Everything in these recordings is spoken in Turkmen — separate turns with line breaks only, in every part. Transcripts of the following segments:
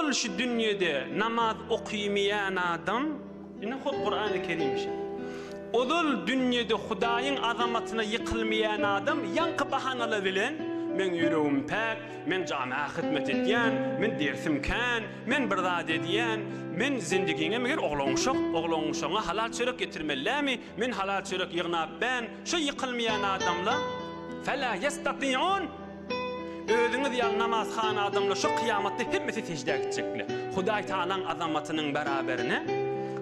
Ol şu dünýede namaz okymeýän adam, ine hut Kurany Kerim şeý. Ozal dünýede Hudaýyň azamatyna ýykylmaýan adam ýaňky bahanalar bilen, Meň ýüregim päk, men jamyýa hyzmat edýän, men dersim kän, men bir zat edýän, men zendigiňe meger oglanuşak, oglanuşagyňa halal çörek ýetirmelidämi, men halal çörek ýygnap bän, şu ýykylmaýan adamlar, Fela ýestatiun! Özüňiz ýaly namazhana adamlar şu kyýamatda hemmesi seždä gitjekler. Hudaý Tagalaň azamatynyň bäraberine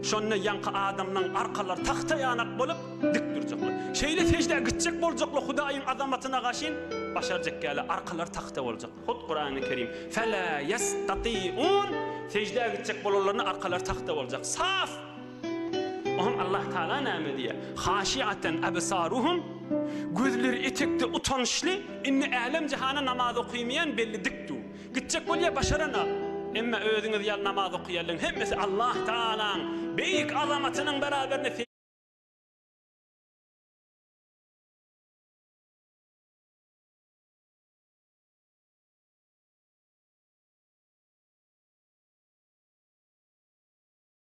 şonda ýaňky adamlaň arkalary tagta ýanak bolup, dik durjaklar. Şeýle seždä gitjek boljaklar Hudaýyň azamatyna gaşyn başarjak ýaly arkalary tagta boljak. Hut Kurany Kerim, Fela ýestatiun, seždä gitjek bolanlaryna arkalary tagta boljak. Saf! Oňa Allah Tagala näme diýýär? Haşiaten absaruhum, gözleri etekde utançly, indi älem jahana namaz okymaýan belli dik du. Gitjek bolýa başaranok. Emma özüňiz ýaly namaz okaýanlaryň hemmesi Allah Tagalaň beýik azamatynyň beraberinde.